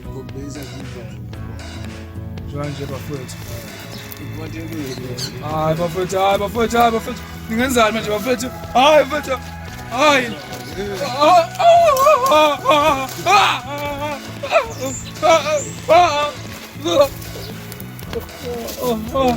Ngokubeza kudlala. Njanje bafethu. Hayi bafethu, hayi bafethu, hayi bafethu. Ningenzani manje bafethu? Hayi bafethu. Hayi. Oh, oh, oh.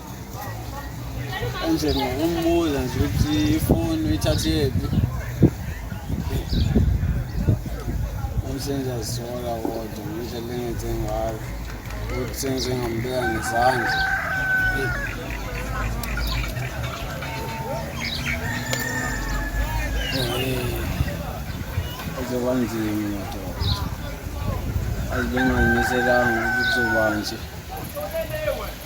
nje ngokumbuza nje ukuthi ifoni uyithathephi umsenza zisola kodwa ngendlela engenze ngayo ukuthi sengize ngambeka ngezandla kuzoba nzima madoda azibenganyiselanga ukuthi kuzobanje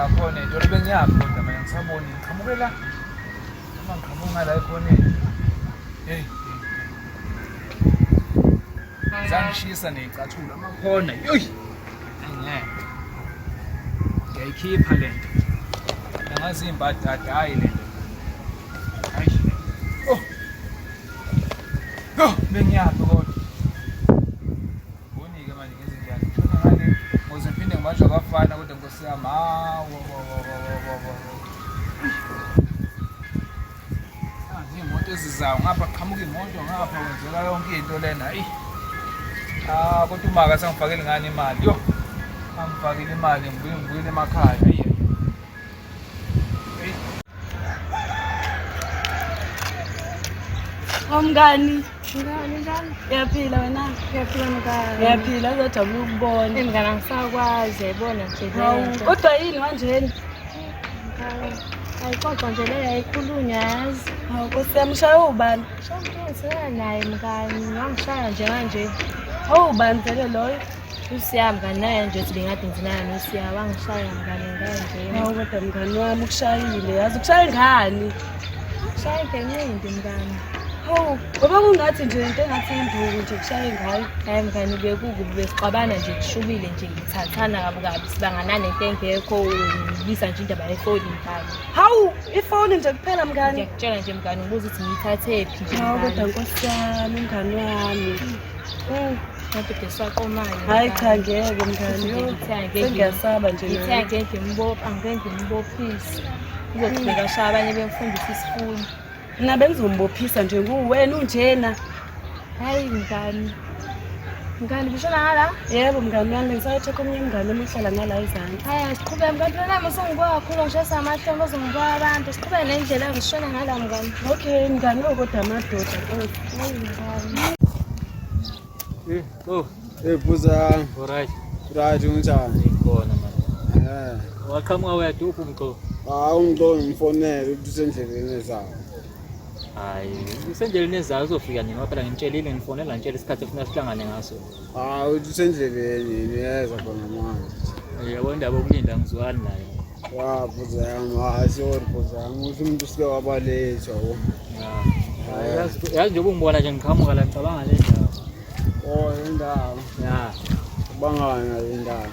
ngakhona itolo bengiyaphi kodwa mina ngisaboni ngiqhamuke la uma ngiqhamuka la ekhoneni heyi zangishisa neyicathulo amakhona yoyi angeke ngiyayikhipha le nto angazi imbadada hhayi le nto Oh. Oh, bengiyaphi kodwa. Bonike manje ngenze njani? Ngifuna ngane ngoze phinde ngibanjwe abafana kodwa nkosi yami. Hawo. Ah, imoto ezizayo ngapha qhamuka imoto ngapha wenzeka yonke into lena. Ayi. Ah, kodwa umaka sangifakele ngani imali. Yo. Angifakile imali ngibuye ngibuyele emakhaya. Ayi. Omngani. Ngani njani? Ngiyaphila wena. Ngiyaphila mngani. Ngiyaphila uzojabula ukubona. Eh mngani angisakwazi yayibona nje. Kodwa yini wanjeni? Ayixoxa nje leyo ayikhulunywa yazi. Hawu Nkosi yami ushaya ubani? Shaya naye mngani. Ngangishaya nje kanje. Hawu ubani vele loyo? usiya mngani naye nje ukuthi bengathi nginaya nosiya wangishaya mngani nganje awu kodwa mngani wami ukushayile yazi ukushaye ngani ushaye ngencindi mngani hawu ngoba kungathi nje into engathi induku nje kushaye ngayo hayi mngani bekukubi besixabana nje kushubile nje ngithathana kabi kabi sibanganane into engekho ngibisa nje indaba yefoni mngani hawu ifoni nje kuphela mngani ngiyakutshela nje mngani ubuza ukuthi ngiyithathephi nje hawu kodwa nkosi yami mngani wami hayi cha ngeke mngani sengiyasaba nje ngithe angeke ngimbophe angeke ngimbophise uzogcika sha abanye bemfundisa isifundo mna bengizombophisa nje nguwena unjena hayi mngani mngani bishona ngala yebo mngani wami ngisayothatha omunye mngani omuhlala ngala izansi hayi asiqhubeke mngani phela nami usungikwakhulu ngishayisa amahlombe ozongikwa abantu siqhubeke nendlela ngishona ngala mngani okay mngani okodwa amadoda Eh, oh. Eh, buza. Alright. Right, unjani? Ngikona manje. Eh. Waqhamuka wedwa uphi umxo? Hayi umxo ngimfonele ukuthi usendleleni ezayo. Hayi, usendleleni ezayo uzofika nini waphela ngimtshelile ngifonela ngitshela isikhathi efuna sihlangane ngaso. Ah, usendleleni niyeza khona manje. Yebo indaba okulinda ngizwani nayo. Wa bhuza yami, hayi sorry bhuza yami, uthi umuntu usike wabalethwa wo. Hayi yazi yazi njengoba ungibona nje ngiqhamuka la ngicabanga le ndawo. Oh, le ndawo. Ya, Bangana le ndawo.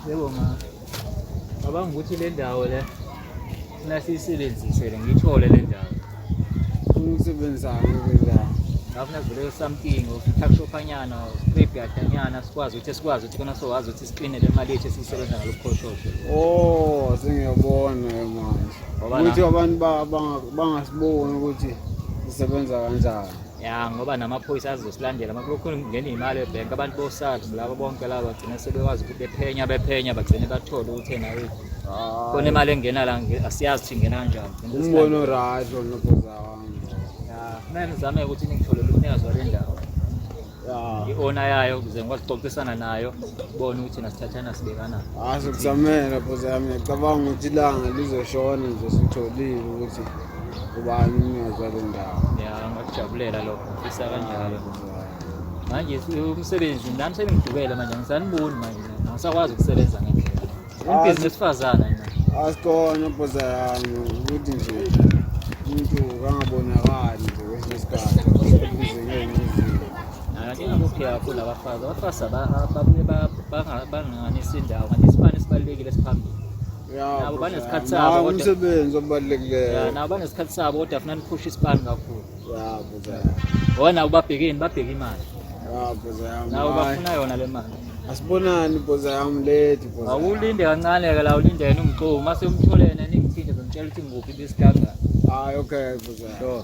yebo ma. Cabanga ukuthi le ndawo le Mina siyisebenzise le ngiyithole le ndawo. Umsebenzani le ndawo? Ngafuna kuvele something ufuthi kushophanyana script yakanyana sikwazi ukuthi sikwazi ukuthi kona sowazi ukuthi siqine le mali yethu siyisebenza ngalokukhoshosho. Oh, sengiyabona ke manje. Ukuthi abantu bangasiboni ukuthi sisebenza kanjani. ya ngoba namaphoyisa azosilandela uma kulokhu ngena imali ebhenki abantu bosars labo bonke laba bagcine sebekwazi ukuthi bephenya bephenya bagcine bathole ukuthi ena khona imali engena la asiyazi ukuthi ingena kanjani umbono right lona bhoza wami ya mina ngizame ukuthi ningitholele umnikazi wale ndawo i-owner yayo ukuze ngikwazi ukuxoxisana nayo bona ukuthi nasithathana sibekana azokuzamela bhoza yami ngiyacabanga ukuthi ilanga lizoshona nje sitholile ukuthi ubani umnikazi wale ndawo ya ngakujabulela lokho ngifisa kanjalo manje umsebenzi nami sengidubele manje angisaniboni manje angisakwazi ukusebenza ngendlela umbhizinisi wesifazane nje asikhona bhoza yami ukuthi nje umuntu kangabonakali nje kwesinye isikhathi ingakuphi yakho labafazi abafazi babuye banganisi indawo kanti isibani esibalulekile esiphambili nabo banesikhathi sabo kodwa umsebenzi obalulekileyo nabo banesikhathi sabo kodwa funa niphushe isipani kakhulu yabo bona ubabhekeni babheke imali yabo zami nabo bafuna yona le mali asibonani bhoza yami lady bhoza awulinde kancane ke la ulinde yena umxomo mase umtholene ningithinde ngimtshela ukuthi ngikuphi besiganga hayi okay bhoza sure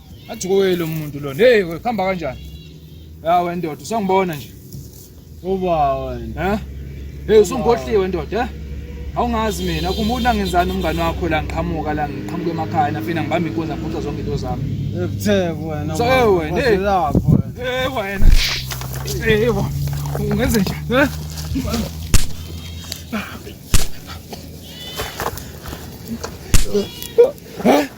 Athi kuwe lo muntu lo. Hey, khamba kanjani? Ya wendoda, usangibona nje. Uba wena. Eh? Hey, usungohliwe ndoda, eh? Awungazi mina kumuntu angenzani umngani wakho la ngiqhamuka la ngiqhamuka emakhaya nafina ngibamba inkoza ngiphuca zonke into zami. Ebutheke wena. So hey wena. Hey lapho. Hey wena. Hey yebo. Ungenze nje. Eh? Huh?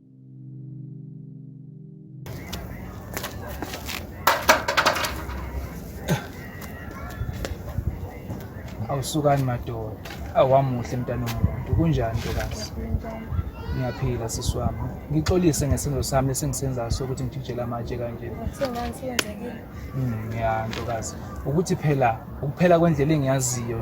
awusukani madoda awamuhle mntana omuntu kunjani ntokazi ngiyaphila sisi wami ngixolise ngesenzo sami lesengisenzayo sokuthi ngijijele amatshe kanje hmm, ya ntokazi ukuthi phela ukuphela kwendlela engiyaziyo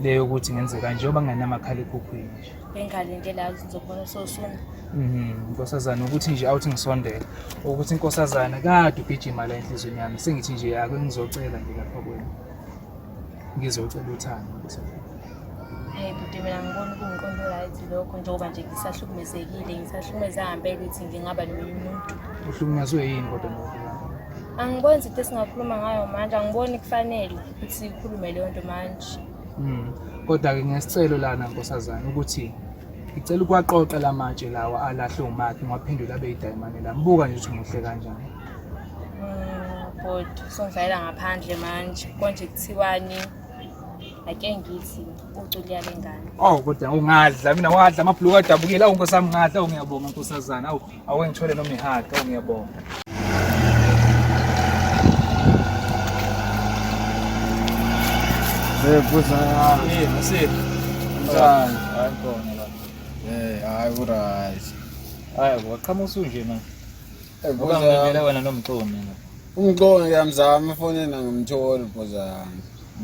leyo ukuthi ngenze kanje oba ngingenamakhalekhukhwini bengalindela ngizobona sosona mhm inkosazana ukuthi nje awuthi ngisondele ukuthi inkosazana kade ugijima la enhlizweni yami sengithi nje ake ngizocela nje lapha kwena ngizocela uthando inkosazana Hey bhuti mina ngibona kungiqondo right lokho njengoba nje ngisahlukumezekile ngisahlukumeza hambe ukuthi ngingaba nomunye umuntu uhlukumezwe yini kodwa lokho angiboni izinto esingakhuluma ngayo manje angiboni kufanele ukuthi sikhulume leyo nto manje Mm. Kodwa-ke ngesicelo lana nkosazana ukuthi ngicela ukuwaqoqa la matshe lawa alahle umakhe ngiwaphendule abe yidayimane lami buka nje ukuthi muhle kanjani bhuti songidlalela ngaphandle manje konje kuthiwani ake ngithi uculiya lengane oh kodwa ungadla mina wadla amabhuluku adabukile awu nkosami ngadla awu ngiyabonga nkosazana awu Awuke ngithole noma ihage, oh, ngiyabonga. Eh, buza. Eh, mase. Mzani. Hayi khona la. Eh, hayi uRazi. Hayi, waqhamuka usunje manje. Eh, buza. Ukamela wena nomxomi mina. Umxomi ngiyamzama efonini angimtholi buza.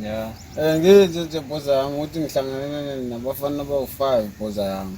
Yeah. Eh, ngithi nje buza ukuthi ngihlangana nabafana abawu-5 buza yami.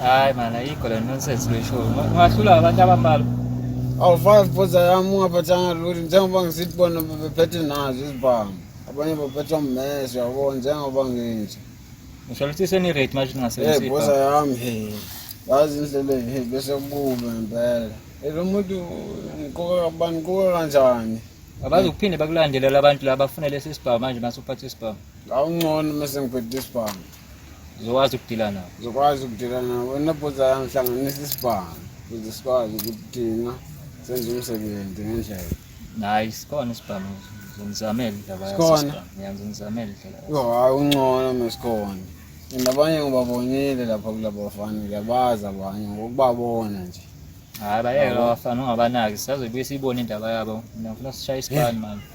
Hayi mana yikho le nonsense leshow. Ungahlula abantu abambalwa. Awufani futhi yami ungaphathanga lutho njengoba ngisithi bona bebephethe nazo izibhamu. Abanye baphetha ummese yabo njengoba nginje. Ngisho ukuthi seni rate manje Eh ningasebenzisi. boza yami he. Yazi indlela he bese kubuka impela. Eh lo muntu ngiqoka kabani ngiqoka kanjani? Abazi ukuphinde bakulandelela abantu laba bafune lesi sibhamu manje masuphatha isibhamu. Awungcono mase ngiphethe isibhamu. uzokwazi ukudila nabo uzokwazi ukudila nabo wena bhuza yami hlanganisa isibhamu ukuze sikwazi ukuthi thina senze umsebenzi ngendlela nayi sikhona isibhamu ngizamele indaba yakhona ngiyangizamele indlela yo hayi uncono mesikhona nabanye ngibabonile lapha kulabo bafana ngiyabazi abanye ngokubabona nje hayi bayeke abafana ungabanaki sisazobuye siyibone indaba yabo ngifuna sishaye isibani manje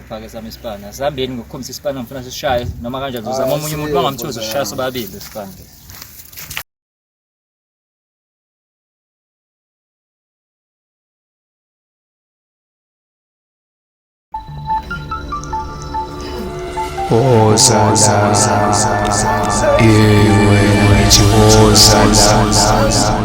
Fake sami isipani. Asihambeni ngokukhombisa isipani ngifuna sishaye noma kanjani uzama omunye umuntu bangamthozi ushaya sobabili isipani. Ozala, iwe ngithi ozala.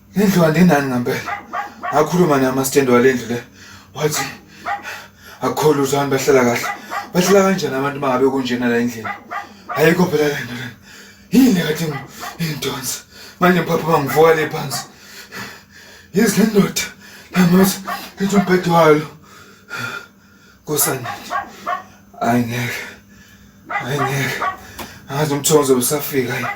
Indlu andinani ngampela. Ngakhuluma naye amastand wale ndlu le. Wathi akukho lutho abantu bahlala kahle. Bahlala kanjani abantu bangabe kunjena la endlini? Ayikho phela le nto lena. Yini kade ngidonsa. Manje mphathi bangivuka le phansi. Yizi le ndoda. Lamuthi lithi umbhede walo. Nkosana. Hayi ngeke. Hayi ngeke. Angazi umthonzo usafika yini.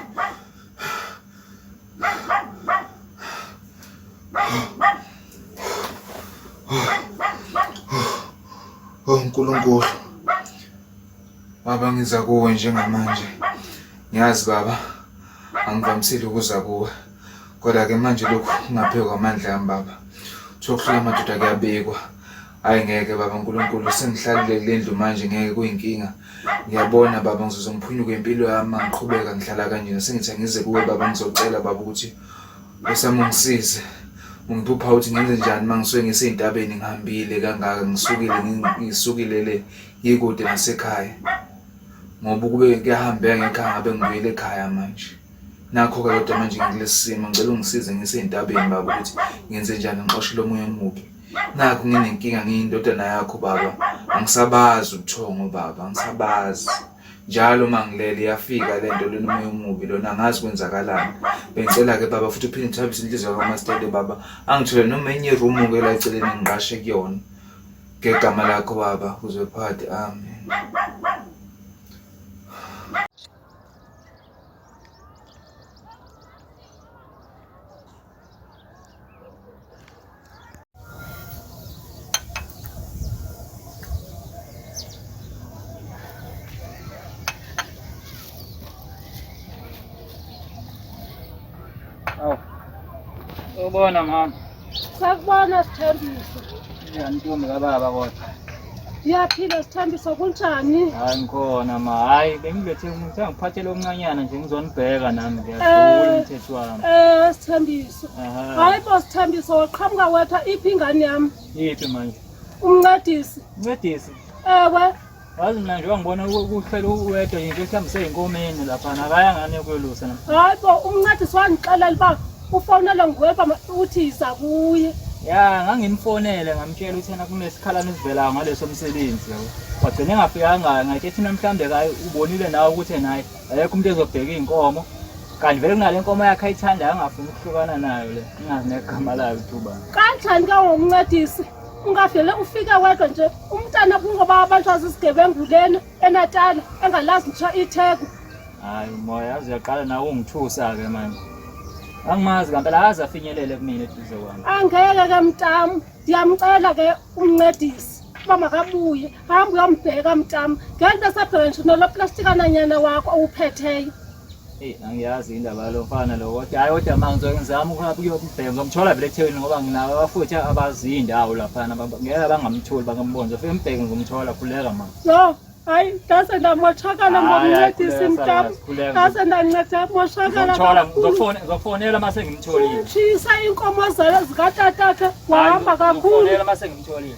Oh Nkulunkulu Baba ngiza kuwe njengamanje ngiyazi baba angivamisile ukuza kuwe kodwa ke manje lokhu kungaphezu kwamandla ami baba Thokhula madoda kuyabikwa Hayi ngeke baba uNkulunkulu sengihlalile kule ndlu manje ngeke kuyinkinga. Ngiyabona baba ngizoze ngiphunyuke impilo yami uma ngiqhubeka ngihlala kanjena. Sengithi angize kuwe baba ngizocela baba ukuthi usame ungisize. Ungiphupha ukuthi ngenze njani uma ngisuke ngisey'ntabeni ngihambile kangaka ngisukile ngi- ngisukile le ngikude nasekhaya. Ngoba ukube kuyahambeka ngekhaya ngabe ngibuyele ekhaya manje. Nakho-ke kodwa manje ngikulesi simo ngicela ungisize ngisey'ntabeni baba ukuthi ngenze njani ngixoshe lo moya omubi. nakho nginenkinga ngiyindodana yakho baba angisabazi ubuthongo baba angisabazi njalo uma ngilele iyafika le nto lona umoya omubi lona angazi kwenzakalani bengicela-ke baba futhi uphinde uthabise inhliziyo kamasitele baba angithole noma enye irumu-ke la eceleni ngiqashe kuyona ngegama lakho baba uzwe phakathi amen Aw. Ubona mama. Sakubona sithembisa. Ntombi kababa kodwa. Ngiyaphila sithambisa kunjani? Hayi ngikhona ma. Hayi bengilethe umuntu angiphathele omncanyana nje ngizonibheka nami ngiyadlula eh, umthetho wami. Eh sithambisa. Hayi bo sithambisa waqhamuka wetha iphi ingane yami? Yiphi manje? Umncedisi. Umncedisi. Ewe. Wazi mina njengoba ngibona ukuhlela uwedwa yinto ehlambise ey'nkomeni lapha nakaya ngane yokuyolusa nam. Hayi bo umncadi siwangixelela uba ufonelwe nguweba uthi yiza kuye. Ya ngangimfonele ngamtshela ukuthi yena kunesikhalane esivelayo ngaleso msebenzi yabo. Wagcina engafikanga ngathi thina mhlawumbe kaye ubonile nawe ukuthi yena hayi ayekho umuntu ezobheka iy'nkomo. Kanti vele kunale nkomo yakhe ayithandayo angafuni ukuhlukana nayo le. Ingazi negama layo ukuthi ubani. Kanjani ke ungumncedisi? ungavele ufike wedwa nje umntana kungoba abantu azisigebengu lena enatala engalazi ngisho itheko hayi umoya yazi uyaqala nawe ungithusa-ke manje angimazi kampela akaze afinyelele kumina eduze kwami angeke ke mtam ndiyamcela ke umncedisi uba makabuye hamba uyombheka mtam ngento esabheka nje noloplastikana nyana wakho owuphetheyo Hey, angiyazi indaba yalo mfana lo kodwa hayi kodwa manje ngizwe ngizama ukuhamba ukuyobheka ngizomthola vele eThekwini ngoba nginawo abafuthi abazi indawo lapha ngeke bangamtholi bangambona nje ufike mbheke ngizomthola khuleka manje so hayi ngase ndamoshakala ngokuncedisa imtam ngase ndanceda moshakala ngizomthola mase ngimtholile shisa inkomo zalo zikatatakhe wahamba kakhulu mase ngimtholile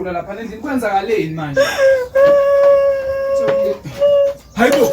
uyagula lapha endlini kwenzakaleni manje hayibo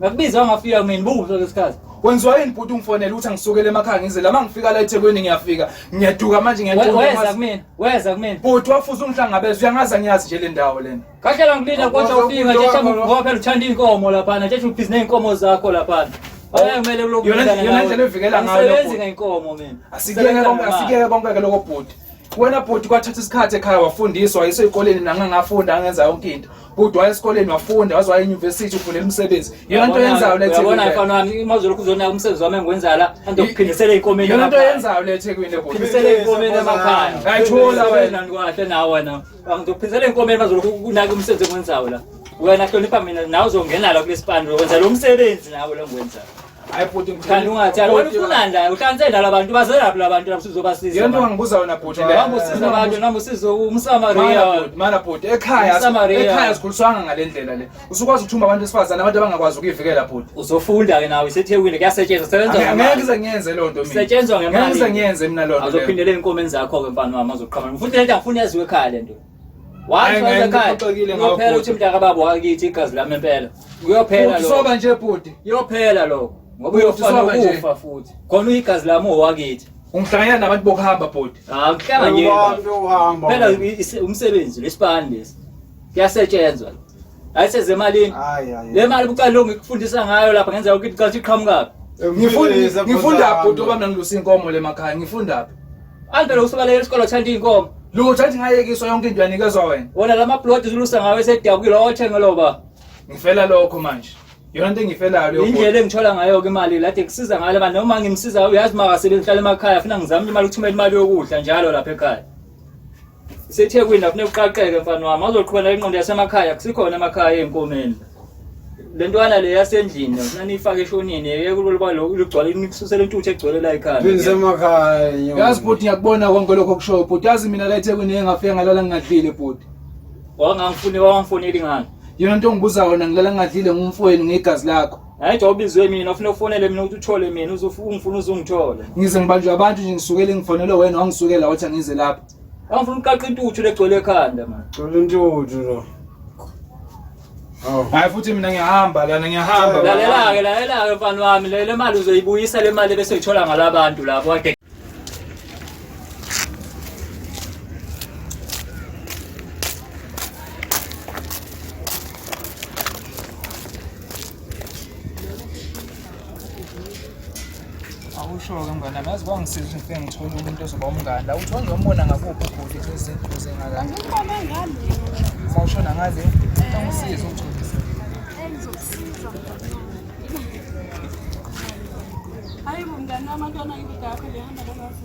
Ngakubiza ungafika mina buzo lesikhathi. Wenziwa yini bhuti ungifonela uthi angisukele emakhaya ngize lama ngifika la eThekwini ngiyafika. Ngiyaduka manje ngiyaqonda. Weza kumina, weza kumina. Bhuti wafuza ungihlangabeza uyangaza ngiyazi nje le ndawo lena. Kahle la ngilina kodwa ufika nje shamba ngoba phela uthanda inkomo lapha nje ubhizinisi neinkomo zakho lapha. Ayemele oh, lokho. Yona yona ndlela evikela ngayo. Ngisebenzi ngeinkomo mina. Asikeke konke asikeke konke lokho bhuti. Wena bhuti kwathatha isikhathi ekhaya wafundiswa yiso ikoleni nangangafunda angenza yonke into. kodwa waya esikoleni wafunda waze waya enyuvesithi ufuna imisebenzi yona nto yenzayo le thekwini yabona mfana wami uma uzolokhu uzonaka umsebenzi wami engiwenza la ande ukuphindisela ikomeni yona nto yenzayo le thekwini le phindisela ikomeni emakhaya ayithola wena ndikwahle nawe wena ngizophindisela ikomeni bazolokhu kunaka umsebenzi engiwenzayo la wena hlonipha mina nawe uzongena la kulesipani wenza lo msebenzi nawe lo ngiwenzayo Hayi bhuti Thani ungathani wena ufunani la uhlanze la labantu bazelaphi labantu lapho sizobasiza. Yonke wangibuza wena bhuti le. Hamba usiza abantu nami usiza umsamaria. Mana bhuti ekhaya ekhaya sikhuliswanga ngalendlela le. Usukwazi ukuthumba abantu esifazana abantu abangakwazi ukuyivikela bhuti. Uzofunda ke nawe isethekwini kuyasetshenzwa sebenza ngemali. Ngeke ngize ngiyenze lo nto mina. Setshenzwa ngemali. Ngeke ngize ngiyenze mina lo nto. Azophindela enkomeni zakho ke mfana wami azoqhama. Ngifuna lento ngifuna yaziwe ekhaya lento. Kuyophela uthi mntaka baba wakithi igazi lami impela. Kuyophela lokho. Soba nje bhuti. Kuyophela lokho. Ngoba uyofana ukufa futhi. Khona uyigazi lami owakithi. Ungihlanganyela nabantu bokuhamba bhuti. Ah, ngihlanganyela. Phela umsebenzi lesibani lesi. Kuyasetshenzwa. ayiseze emalini le mali bucala lo ngikufundisa ngayo lapha ngenzeka ukuthi qala iqhamukaphi ngifunda ngifunda bhuti oba mina ngilusa inkomo le makhaya ngifunda phi Andele usubaleke isikole uthanda inkomo. Lutho athi ngayekiswa yonke into yanikezwa wena. Wona lama plot zulusa ngawe esedabukile othenga loba. Ngifela lokho manje. Yona into engifelayo leyo. Indlela engithola ngayo ke imali lathi kusiza ngale abantu noma ngimsiza uyazi makasebenzi hlala emakhaya funa ngizame imali ukuthumela imali yokudla njalo lapha ekhaya. SeThekwini la funeka uqaqeke mfana wami azoqhubela inqondo yasemakhaya kusikhona emakhaya ey'nkomeni le ntwana le yasendlini funa niyifake eshonini yeke kuloluba lugcwale nisusele intuthu egcwele la ekhaya Ngisemakhaya nyo. yazi bhuti ngiyakubona konke lokho okushoyo bhuti yazi mina la ethekwini ngeke ngafika ngalala ngingadlile bhuti wangangifuni wangangifuni elingani yona nto ongibuza yona ngilala ngingadlile ngumfowenu ngegazi lakho Hayi cha ubizwe mina ufuna ufonele mina ukuthi uthole mina uzofuna uzungithole. Ngize ngibanjwe abantu nje ngisukele ngifonele wena wangisukela wathi angize lapha. Angifuna uqaqa intuthu legcwele ekhanda manje. Thola intuthu lo. Hayi futhi mina ngiyahamba lana ngiyahamba. Lalela ke lalela ke mfana wami le mali uzoyibuyisa le mali bese uyithola ngalabantu lapho kade awusho-ke mngani ami yazi kwangisiza ukuthi ngifike ngithole umuntu ozoba umngani la uthi wangizombona ngakuphi ubhuti izinto zingakani sawushona ngale angisize ugcobisa hayi bo mngani wami antwana ngikudakho lehamba lolwazi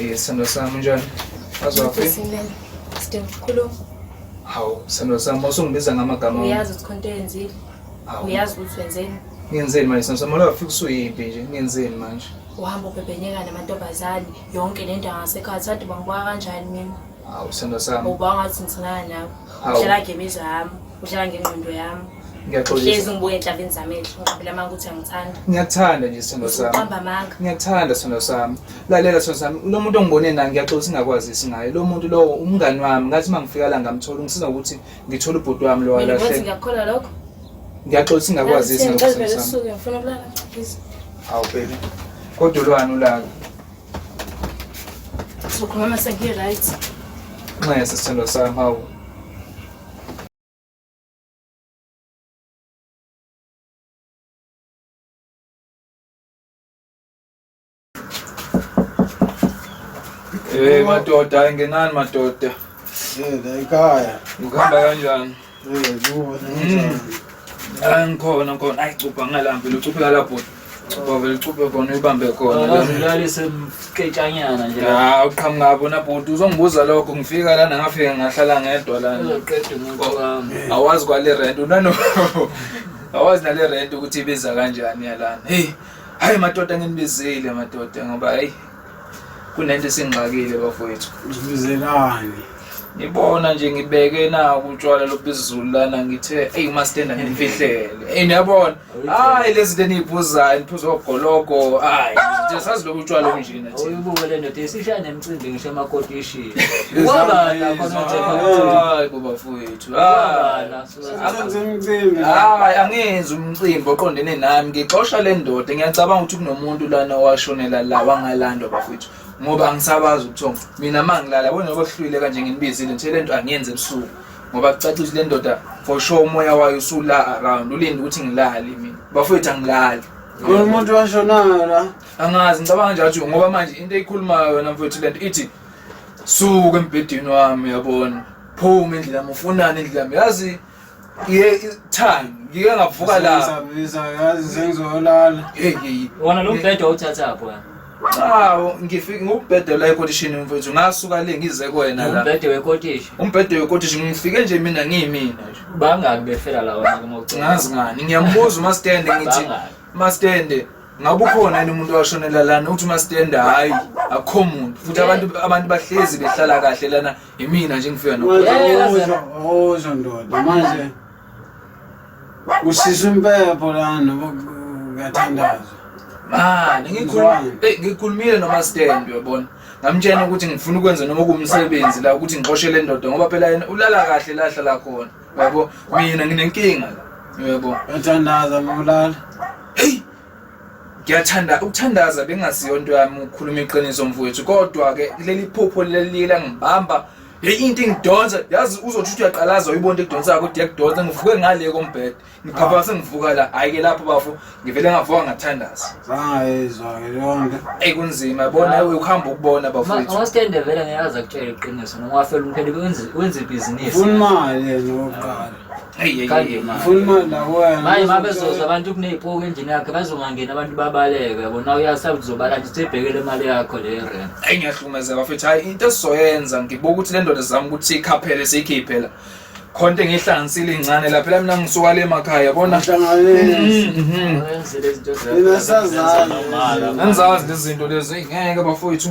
Eh, sandwa sami njani? Azwaphi? Sidinga ukukhuluma. Hawu, sandwa sami usungibiza ngamagama. Uyazi ukuthi khonto yenzile. Uyazi ukuthi wenzeni? Ngenzeni manje sandwa sami? Lafika usuyimpi nje. Ngenzeni manje? Uhamba ubhebhenyeka namantombazane yonke le ndawo ngasekhaya. Sathi bangibona kanjani mina? Hawu, sandwa sami. Ubanga ukuthi ngithina nawe. Uhlala ngemizwa yami. Uhlala ngengqondo yami. Ngiyaxolisa. ngibuke enhlabeni zami ehle ngiqabela amanga ukuthi angithanda. Ngiyakuthanda nje sithando sami. Uqamba amanga. Ngiyakuthanda sithando sami. Lalela sithando sami. Lo muntu ongibone naye ngiyaxolisa ingakwazisi ngaye. Lo muntu lowo umngani wami. Ngathi uma ngifika la ngamthola ungisiza ukuthi ngithole ubhuti wami lo Mina wathi ngiyakukholwa lokho. Ngiyaxolisa ingakwazisi ngaye sithando Ngicela sami. usuke ngifuna ukulala please. Awu baby. Kodwa ulwani ulaka. Sokhuluma mase ngi right. Nxese sithando sami hawu. Hey madoda, ayingenani madoda. Eh, la ekhaya. Ukuhamba kanjani? Eh, kuba kanjani? Angikhona khona. Ayi cupha ngalambi, lucupha la bhuti. Cuba vele cube khona uyibambe khona. Akazilalise mketshanyana nje. Ya uqhamuka apho na bhuti uzongibuza lokho ngifika lana ngafika ngahlala ngedwa lana. Uzoqeda umuntu wami. Awazi kwale rent unano. Awazi nale rent ukuthi ibiza kanjani yalana. Hey. Hayi madoda nginibizile madoda ngoba hey kunento esingxakile bafowethu uzibizelani ngibona nje ngibeke naku utshwala lobizulu lana ngithe eyi umastenda ngimfihlele eyi niyabona hayi lezi zinto eniyiphuzayo niphuza ogologo hayi nje sazi lobu utshwala obunjena thina uyibuke le ndoda isishaya nemcimbi ngisho emakotishini Izambizo. kwabala khona nje Hayi, bo bafowethu hayi. kwabala Senze umcimbi. Hayi angenzi umcimbi oqondene nami ngixosha le ndoda ngiyacabanga ukuthi kunomuntu lana owashonela la wangalandwa bafethu ngoba angisabazi ubuthongo mina ma ngilala yabona noba kuhlwile kanje nginibizile nje le nto angiyenzi ebusuku ngoba kucaca ukuthi le ndoda for sure umoya wayo usula around ulinde ukuthi ngilale mina bafethu angilali Kulo muntu washonayo la. angazi ngicabanga nje athi ngoba manje into eyikhulumayo yona mfethu le nto ithi suka embhedeni wami yabona phuma endlela yami ufunani endlela yami yazi ye time ngike ngavuka la Sengisabisa yazi sengizolala. hey hey wona lo mbhede wawuthathaphi wena Awu ngifike ngubhede la ekotishini mfethu ngasuka le ngize kwena la umbhede wekotishi umbhede wekotishi ngifike nje mina ngiyimina nje bangaki befela la wena uma ucela ngazi ngani ngiyambuza umasitende ngithi Bangaki? masitende ngabe ukhona yini umuntu washonela lana uthi umasitende hhayi akukho muntu futhi abantu abantu bahlezi behlala kahle lana Imina nje ngifika no. Uzwa ndoda manje usisa impepho lana uyathandaza. Ah, ngikhuluma eh ngikhulumile noma stand uyabona. Ngamtshena ukuthi ngifuna ukwenza noma kumsebenzi la ukuthi ngixoshe le ndoda ngoba phela yena ulala kahle lahla la khona. Uyabo mina nginenkinga la. Uyabo. Uyathandaza mawulala. Hey ngiyathanda ukuthandaza bengaziyo into yami ukhuluma iqiniso mfowethu kodwa ke leli phupho leliye langibamba hey into engidonsa yazi uzothi uthi uyaqalaza uyibona into ekudonsa yakho kodwa yakudonsa ngivuke ngale kombhede ngiphapha sengivuka la hayi ke lapho bafo ngivele ngavuka ngathandaza zangayizwa ke lonke ey kunzima bona ukuhamba ukubona bafowethu uma stende vele ngiyazi akutshela iqiniso noma wafela umphele wenze wenze ibhizinisi ufuna imali yena oqala manje uma bezoza abantu kuney'poki endlini yakhe bazongangeni abantu babaleke yabona uyasaba uzobala nje sibhekele imali yakho le rent eyi ngiyahlukumezeka bafethu hhayi into esizoyenza ngibuka ukuthi le ndoda zami ukuthi ikhaphele siyikhiphe la khona into engiyihlanganisile incane la phela mina ngisuka le makhaya yabona ngizazi lezi zinto lezi eyi ngeke bafowethu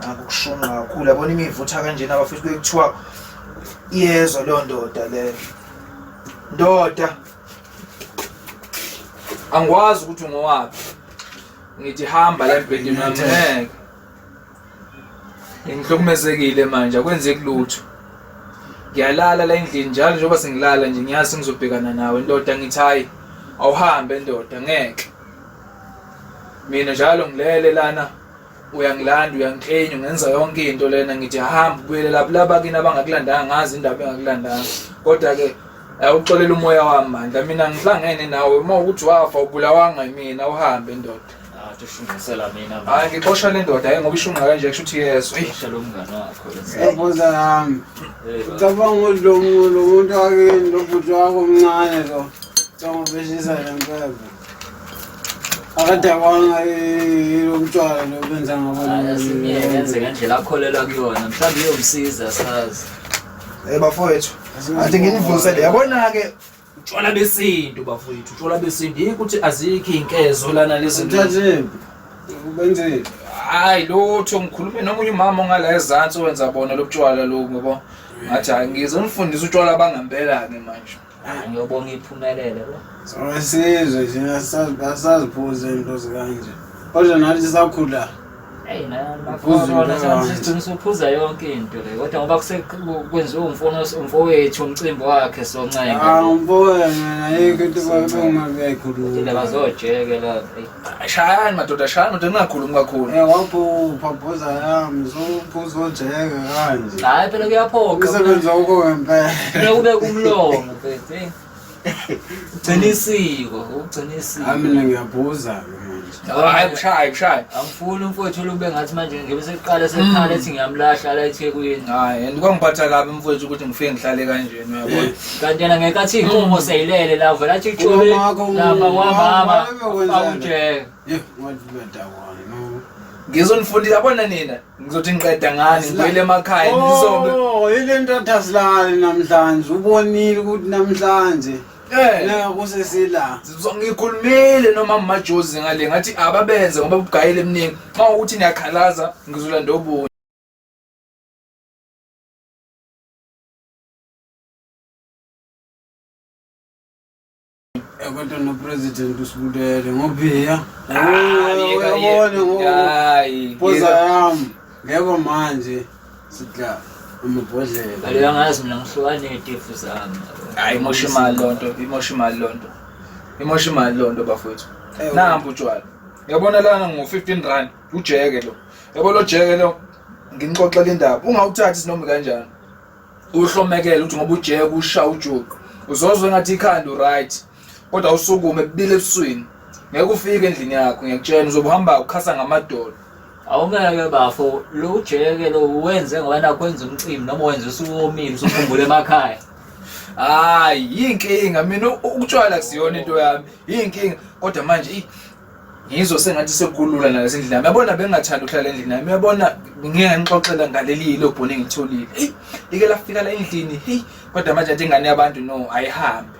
Naku kushunqa kakhulu yabona imivutha kanjena abafethu bekuthiwa iyezwa leyo ndoda leyo. Ndoda angikwazi ukuthi ngowaphi. Ngithi hamba la embhedeni wami ngeke. Ngihlukumezekile manje akwenzeki lutho. Ngiyalala la endlini njalo njengoba sengilala nje ngiyazi ngizobhekana nawe ndoda ngithi hayi awuhambe ndoda ngeke. Mina njalo ngilele lana uyangilanda uyangiklenya ungenza yonke into lena ngithi hamba ubuyele lapho laba kini abangakulandanga ngazi indaba engakulandanga kodwa-ke awuxolela umoya wami mandla mina ngihlangene nawe uma ukuthi wafa ubulawanga yimina uhambe ndoda hayi ngixosha le ndoda hayi ngoba ishunqa kanje kusho ukuthi yeso yabuza yami ucabanga ukuthi lo muntu wakini lo bhuti wakho omncane lo cangobeshisa le mpembe akadakwanga lo mtshwala lo benza ngabo yenze ngendlela akholelwa kuyona mhlawumbe iyomsiza sazi hey bafowethu athi nginivusele yabona-ke utshwala besintu bafowethu utshwala besintu yikho ukuthi azikho iy'nkezo lana lezi ubenzeni hayi lutho ngikhulume nomunye umama ongala ezansi owenza bona lobutshwala lobu ngoba ngathi hayi ngizonifundisa utshwala bangempela-ke manje ngiyobonga iphumelele sesizwe thina asaziphuze into zikanje kodwa nathi sakhula ngizophuza yonke into le kodwa ngoba kwenziwe umfowethu umcimbi wakhe soncengaumfowethu ah, ayikho into bazoyijeke la shayani madoda shayani madoda ningakhulumi kakhulu Eh wabhupha bhoza yami uzophuza ojeke kanje. hayi phela kuyaphoqa Usebenza uko ngempela. Kufuneka ube kumlomo mfethu eh. ugcina isiko ugcina isiko Hayi mina ngiyabhuza ke manje. hayi kushaye kushaye angifuni umfowethu olube ngathi manje ngibe sekuqala sekhala ethi ngiyamlahla la ethekwini hayi and kwangiphatha kabi mfowethu ukuthi ngifike ngihlale kanje kanti yena ngekathi iy'nkomo mm. seyilele la vele athi ithole lapha kwamama akujeke ngizonifundisa yabona nina ngizothi ngiqeda ngani ngibuyele emakhaya ngizobe oh, yile nto athasilali namhlanje ubonile ukuthi namhlanje eh. kusesila ngikhulumile noma majozi ngale ngathi ababenze ngoba bugayile eminingi xa ukuthi niyakhalaza ngizolanda obunye kodwa nopresident usibulele ngobiya uyabona ngopoza yami ngeko manje sidla amabhodlela aleyo ngazi mina ngihlukane ngetefu zami hayi imosha imali loo nto imosha imali loo nto imosha imali loo nto bafowethu namba utshwala yabona lana ngo-fifteen rand ujeke lo yabo lo jeke lo nginixoxela indaba ungawuthathi sinoma kanjani uhlomekele ukuthi ngoba ujeke usha ujuqu uzozwe ngathi ikhanda uright kodwa usukume bile ebuswini ngeke ufike endlini yakho ngiyakutshela uzobuhamba ukhasa ngamadolo awungeke bafo lo ujeke lo wenze ngoba nakho wenza umcimbi noma wenza usuwomile usukhumbula emakhaya hayi yinkinga mina ukutshwala kusiyona into yami yinkinga kodwa manje ngizwe sengathi sekulula nalezi ndlela uyabona bengingathanda ukuhlala endlini nami uyabona ngeke ngixoxela ngaleli yilo bhoni engitholile eyi ike lafika la endlini heyi kodwa manje athi ingane yabantu no ayihambe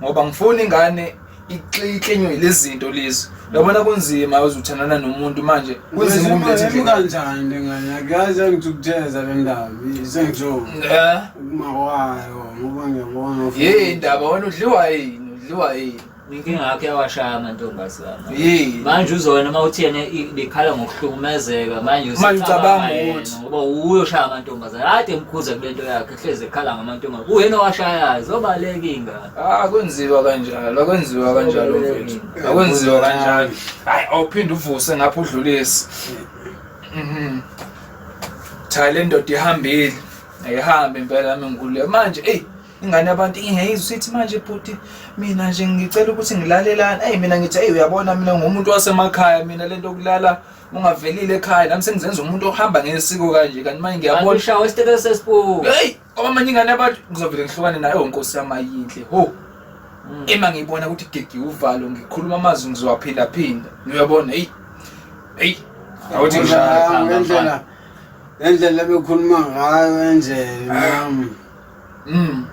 ngoba ngifuna ingane iklinywe lezi zinto lezi uyabona kunzima uzuthandana nomuntu manje kunzima ukumletha endlini kanjani ngane akazi angithukutheleza le ndaba sengijoba eh uma wayo ngoba ngiyabona yini indaba wena udliwa yini udliwa yini Inkinga yakho yawashaya amantombazana. Manje uzona uma uthi yena likhala ngokuhlukumezeka manje usicabanga ukuthi ngoba uyoshaya amantombazana. Kade emkhuza kule nto yakhe hleze ekhala ngamantombazana. Uyena owashayayo zobaleka ingane. Ah kwenziwa kanjalo, akwenziwa kanjalo mfethu. Akwenziwa kanjalo. Hayi awuphinde uvuse ngapha udlulisi. Mhm. Cha le ndoda ihambile. Ayihambe impela mina ngikule manje. Ey ingane abantu ingayizwa usithi manje bhuti mina nje ngicela ukuthi ngilalelani eyi mina ngithi eyi uyabona mina ngumuntu wasemakhaya mina lento yokulala ungavelile ekhaya nami sengizenza umuntu ohamba ngesiko kanje kanti manje ngiyabona ushawa isitebe sespo hey kwamanye ingane abantu ngizovele ngihlukane nayo oh, nkosi yami ayinhle ho mm. ema ngiyibona ukuthi gigi uvalo ngikhuluma amazwi ngizowaphila phinda uyabona hey hey awuthi ngendlela ngendlela bekhuluma ngayo endlela nami Mm.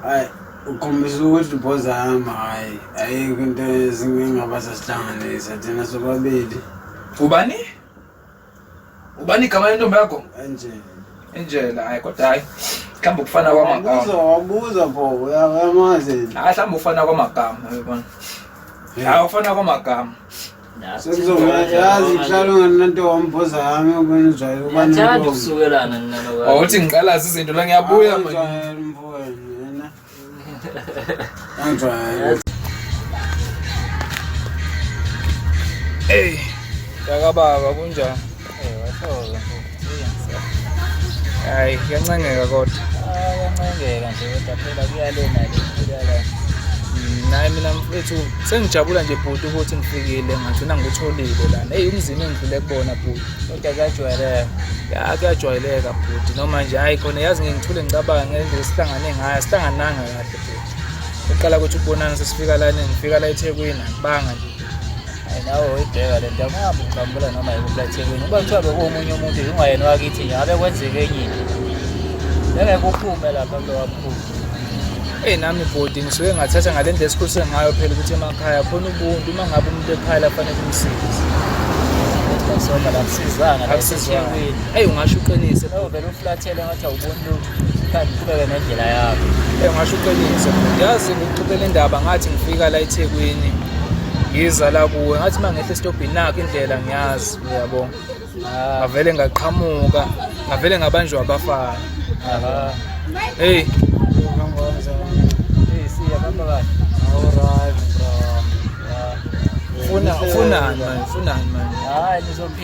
Hayi ukhombisa ukuthi ubhoza hamba hayi ayikho into ezingengaba sasihlanganisa thina sobabili. Ubani? Ubani igama lentombi yakho? Angela. Angela, hayi kodwa hayi. Mhlawumbe ukufana kwamagama. Ubuza wabuza pho uyamazi. Hayi mhlawumbe ufana kwamagama uyabona. Hayi ufana kwamagama. yazi kuhlala ungananto wamboza yami okwenzayo ubathanda ukusukelana wawuthi ngiqalaza izinto la ngiyabuya Hey, yakababa kunjani? hayi kuyancengeka kodwa kuyancengeka nje kodwa phela kuyalena le kuyala mm, naye mina mfethu sengijabula nje bhuti ukuthi ngifikile ngagcina ngikutholile lana eyi umzini engidlule kubona bhuti kodwa kuyajwayeleka ya kuyajwayeleka bhuti noma nje hhayi khona yazi ngengithule ngicabanga ngendlela sihlangane ngayo sihlangananga kahle bhuti kuqala ukuthi ukubonana sesifika lana ngifika la ethekwini angibanga nje nawe uyibheka le nto akuhambe uqambula noma yikuphi ethekwini uba kuthiwa bekuwomunye umuntu ingwayena wakithi nje ngabe kwenzeke enye into bengeke uphume lapha mntu wakukhulu eyi nami bhodi ngisuke ngathatha ngale ndlela esikhulise ngayo phela ukuthi emakhaya khona ubuntu uma ngabe umuntu ekhala fanele umsize akusizanga akusizanga eyi ungasho uqinise vele uflathele ngathi awuboni lutho Kanti uqhubeke nendlela yakho. Eh ngasho uqiniso. Yazi ngikuxoxela indaba ngathi ngifika la eThekwini. Ngiza la kuwe ngathi mangehla esitobhini nakho indlela ngiyazi uyabo. Ah. Ngavele ngaqhamuka, ngavele ngabanjwa abafana. Aha. Hey. Hey, siya bamba kahle. Alright, bro. Ufuna ufunani manje? Ufunani manje? Hayi, nizophila.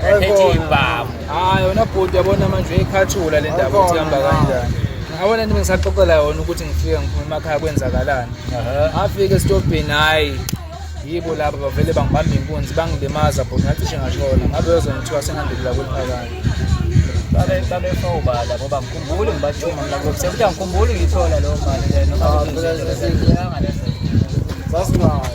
Phethe ibhamu. Hayi wena bhuti yabona manje uyikhathula le ndaba ukuthi ihamba kanjani. Ngabona nje ngisaxoxela yona ukuthi ngifike ngiphume emakhaya kwenzakalani. Afike esitobhini hayi yibo laba bavele bangibamba inkunzi bangilimaza bhuti ngacishe ngashona ngabe yozongithiwa sengandikula kweliphakade. Babe babe fawubala ngoba ngikhumbule ngibathuma mina ngokuthi ukuthi angikhumbuli ngithola leyo mali lena noma Ah, phela sasingaka.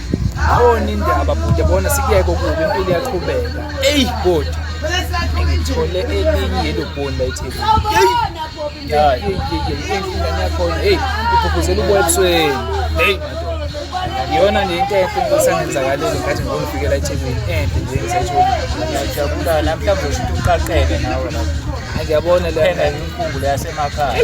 Awona indaba bhuti bona sikuyeke okubi impilo iyaqhubeka. Ey bhuti. Ngithole elinye yelo bhoni la eTheku. Yeah, yeah, yeah. Ingane yakho hey, ukhuphuzela uboya ebusweni. Hey madoda. Yona nje into enhle ngisangenzakalele ngathi ngizofikela eThekwini enhle nje ngisayithola. Ngiyajabula namhlanje usho ukuthi uqaqeke nawe lapho. Ngiyabona le phela inkumbulo yasemakhaya.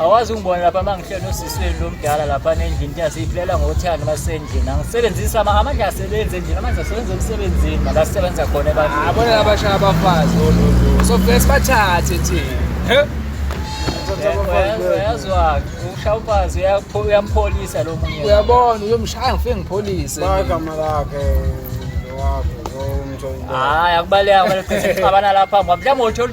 awazi ungibona lapha uma ngihleli nosisweni lo mdala lapha nendlini thina siyiphilela ngothando uma sisendlini angisebenzisi amandla asebenzi endlini amandla asebenza emsebenzini mala sisebenza khona ebantwini abona labashaya abafazi ololu sofike sibathathe thina uyazwake ushaya umfazi uyampholisa lo munye uyabona uyomshaya ngifike ngipholise bagama lakhe lowakhe lomntu hhayi akubaleka abanalapha mhlawumbe uthole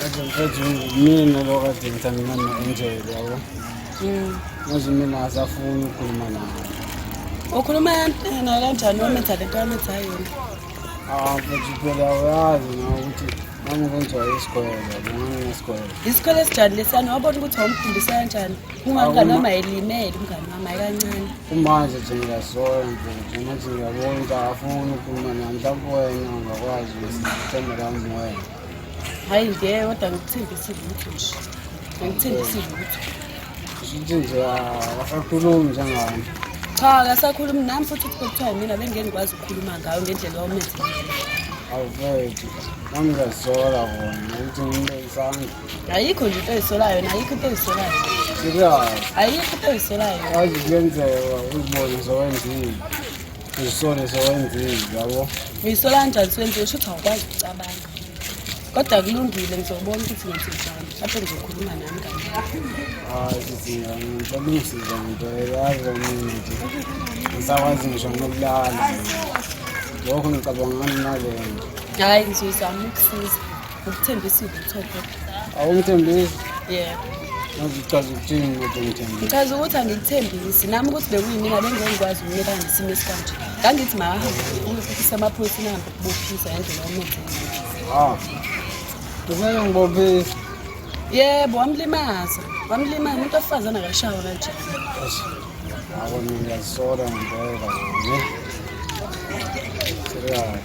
Kade mfethu mina lo kade ngithandana no-Angel yabo. Mm. Manje mina asafuni ukukhuluma naye. Ukhuluma yena kanjani wametha lento wametha yona? Ah, mfethu phela uyazi na ukuthi nami kwenziwa isikole yabo nginesikole. Isikole esijani lesiyana wabona ukuthi wamfundisa kanjani? Umngani wami ayelimele umngani wami ayikancane. kumanje nje ngiyasola nje nje manje ngiyabona ukuthi akafuni ukukhuluma nami mhlawumbe wena ungakwazi ukuthemba lami wena hhayi nje kodwa ngikuthembisile ukuthi nje ngikuthembisile ukuthi nje nje akasakhulumi njengami cha akasakhulumi nami futhi ukuthi kuthiwa yimina bengeke ngikwazi ukukhuluma ngayo ngendlela wawumenze awuvethu nami ngiyazisola kona ukuthi ngimbe isandla ayikho nje into ezisolayo yona ayikho into ezisolayo ayikho into ezisolayo azi kuyenzeka uzibone zowenzile uzisole zowenzile yabo uyisola kanjani siwenzile shuthi awukwazi ukucabanga kodwa kulungile ngizobona ukuthi ngenzijani mhlawumbe ngizokhuluma nami kani hayi sizinga ngibalungisiza ngento yazi mina nje ngisakwazi ngisho nokulala lokho ngicabanga ngani nalento hhayi ngizoyizama ukusiza Ukuthembisile uthotho. Awungithembisi? Yebo. Ngichaza ukuthini ukuthi ngithembisi? Ngichaza ukuthi angikuthembisi. Nami ukuthi bekuyimina bengikwazi ukunika ngesimo esikanje. Ngangithi mahambe ukufisa amaphoyiseni ahambe ukubophisa ngendlela omenze. Ah. Kumele ngibophise. Yebo, wamlimaza. Wamlimaza umuntu ofazana akashawa kanje. Awona ngiyazisola ngempela. Serious.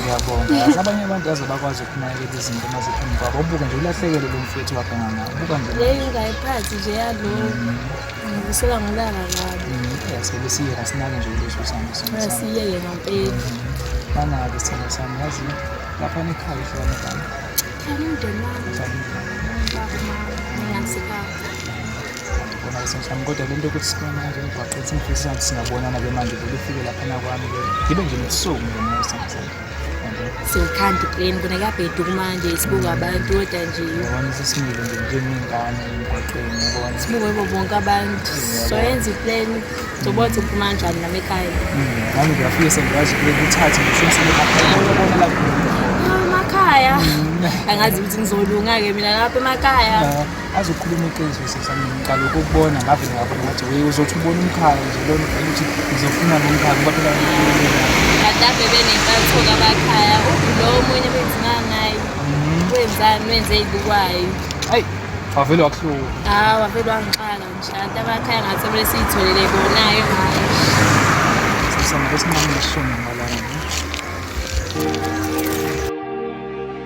ngiyabonga abanye abantu aze bakwazi ukunakekela izinto uma ziphambi kwabo ubuke nje ulahlekelwe lo mfethu wabhanga ngawo ubuka nje leyi ungayiphathi nje yalo ngibusola mm. ngilanga kabi mm, sebe siye kasinake nje leso sami siye yena mpeli banake mm. sithando sami yazi lapha nekhaya ihlona kami Tanım dönmem. Tanım. Bakma. Neyse kaldı. ngibona kusenhlami kodwa le nto yokuthi sibona nje emgwaqeni sengifisa ukuthi singabonana ke manje vele ufike laphana kwami ke ngibe nje nobusuku nje musa msana siwuthanda ipleni kona kuyabheduka manje sibuka abantu kodwa nje yabona sesimile nje njengey'ngane emgwaqeni yabona sibuke bo bonke abantu soyenza ipleni zoba ukuthi uphuma kanjani nami ekhaya mm, nami ngiyafike sengiyazi ukuthi uthathe ngisho umsebenzi akhonaona lapho emakhaya mm. angazi ukuthi ngizolunga-ke mina lapho emakhaya azokhuluma iqiniso sisi ngiqala ukubona ngavele ngabona ngathi we uzothi ubona umkhaya nje lona uvele ukuthi ngizofuna lo mkhaya kuba phela kade benentatho kabakhaya ulo omunye benzima ngayo wenzani wenze ibukwayo hayi wavele wakuhlula hawu wavele wangixaka nje anti abakhaya ngathi kumele siyitholele bonayo ngayo sisana besinqamile sishona ngalana